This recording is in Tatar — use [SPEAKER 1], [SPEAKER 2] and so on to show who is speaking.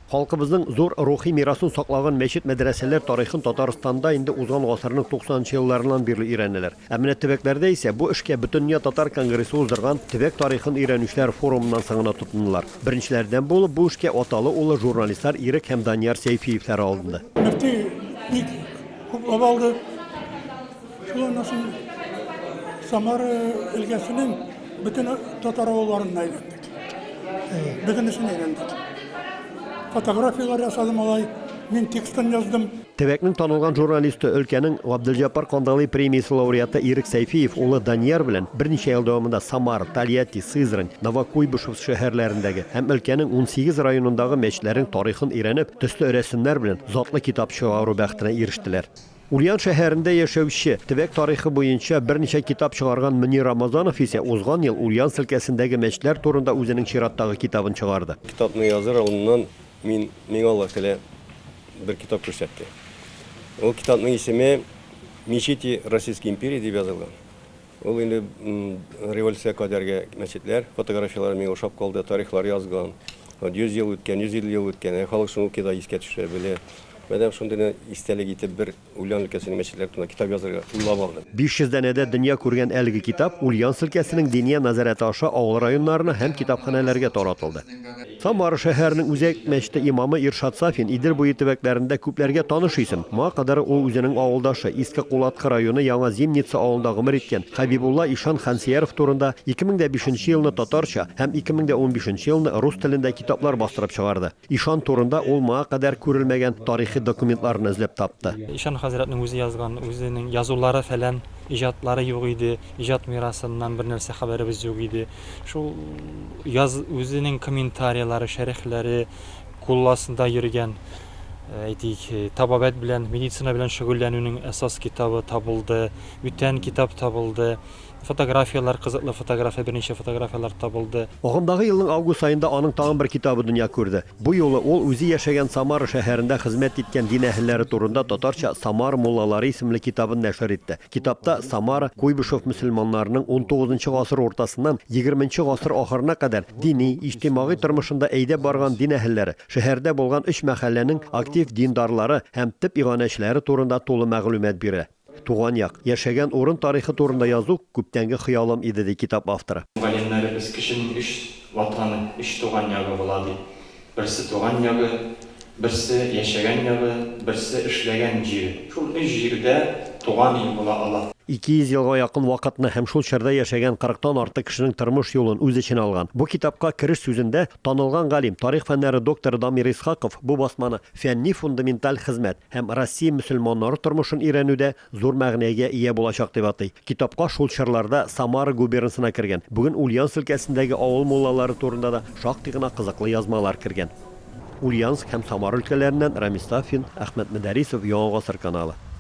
[SPEAKER 1] Халкыбызның зур рухи мирасын саклаган мәчет-мәдрәсәләр тарихын Татарстанда инде узган гасырның туксанынчы елларыннан бирле өйрәнәләр. Ә менә төбәкләрдә исә бу эшкә Бөтендөнья татар конгрессы уздырган Төбәк тарихын өйрәнүчеләр форумыннан соң гына тотындылар. Беренчеләрдән булып бу эшкә аталы-уллы журналистлар Ирек һәм Данияр Сәйфиевләр алынды. Мөфти бик хуплап алды. Шул
[SPEAKER 2] аннан соң Самара өлкәсенең бөтен татар авылларына әйләндек. Бөтенесен әйләндек. Фотографиялар ясадым алай, мин текстын яздым. Төбәкнең танылган
[SPEAKER 1] журналисты, өлкәнең Габделҗаппар Кандалый премиясе лауреаты Ирек Сәйфиев улы Данияр белән берничә ел дәвамында Самара, Тольятти, Сызрань, Новокуйбышев шәһәрләрендәге һәм өлкәнең унсигез районындагы мәчетләрнең тарихын өйрәнеп, төсле рәсемнәр белән затлы китап чыгару бәхетенә ирештеләр. Ульян шәһәрендә яшәүче, төбәк тарихы буенча берничә китап чыгарган Мөнир Рамазанов исә узган ел Ульян селкәсендәге мәчетләр турында үзенең чираттагы китабын чыгарды. Китапны языр алдыннан
[SPEAKER 3] мин, миңа Аллаһ Тәгалә бер китап күрсәтте. Ул китапның исеме Мечети Российской империи дип язылган. Ул инде революция кадәрге мәчетләр фотографияләре миңа ошап калды, тарихлар язган. Вот 100 ел үткән, 150 ел үткән, ә халык шуны укый да искә төшерә, белә. Мәдәм шундый гына истәлек итеп бер Ульян өлкәсенең мәчетләре турында китап язарга уйлап алдым. 500 данәдә дөнья
[SPEAKER 1] күргән әлеге китап Ульян өлкәсенең Диния назарәте аша авыл районнарына һәм китапханәләргә таратылды. Самара шәһәренең үзәк мәчете имамы Иршат Сафин, Идел буе төбәкләрендә күпләргә таныш исем. Моңа кадәр ул үзенең авылдашы, Иске Кулаткы районы Яңа Зимница авылында гомер иткән Хәбибулла ишан Хансеяров турында 2005 нче елны татарча һәм 2015 нче елны рус телендә китаплар бастырып чыгарды. Ишан турында ул моңа кадәр күрелмәгән тарихи документларны эзләп тапты. Ишан хәзрәтнең үзе
[SPEAKER 4] язган, үзенең язулары-фәлән, иҗатлары юк иде, иҗат мирасыннан бернәрсә хәбәребез юк иде. Шул яз үзенең комментарийлары, шәрехләре кулласында йөргән, әйтик, табабәт белән, медицина белән шөгыльләнүнең әсас китабы табылды, бүтән китап табылды, фотографияләр, кызыклы фотография, берничә фотографияләр табылды. Агымдагы елның август
[SPEAKER 1] аенда аның тагын бер китабы дөнья күрде. Бу юлы ул үзе яшәгән Самара шәһәрендә хезмәт иткән дин әһелләре турында татарча Самара муллалары исемле китабын нәшер итте. Китапта Самара, Куйбышев мөселманнарының унтугызынчы гасыр уртасыннан егерменче гасыр ахырына кадәр дини, иҗтимагый тормышында әйдәп барган дин әһелләре, шәһәрдә булган өч мәхәлләнең актив диндарлары һәм төп иганәчеләре турында тулы мәгълүмат бирә. Туган як, яшәгән урын тарихы турында язу, күптәнге хыялым иде, ди китап авторы. Галимнәребез кешенең
[SPEAKER 4] өч Ватаны, өч туган ягы була, ди. Берсе туган ягы, берсе яшәгән ягы, берсе эшләгән җире. Шул өч җирдә туган ил була ала. 200 елга якын
[SPEAKER 1] вакытны һәм шул чорда яшәгән 40 тан артык кешенең тормыш юлын үз эченә алган бу китапка кереш сүзендә танылган галим, тарих фәннәре докторы Дамир Исхаков бу басманы фәнни-фундаменталь хезмәт һәм Россия мөселманнары тормышын өйрәнүдә зур мәгънәгә ия булачак дип атый. Китапка шул чорларда Самара губернасына кергән, бүген Ульяновск өлкәсендәге авыл муллалары турында да шактый гына кызыклы язмалар кергән. Ульяновск һәм Самара өлкәләреннән Рамис Сафин, Әхмәт Мөдәрисов, Яңа гасыр каналы.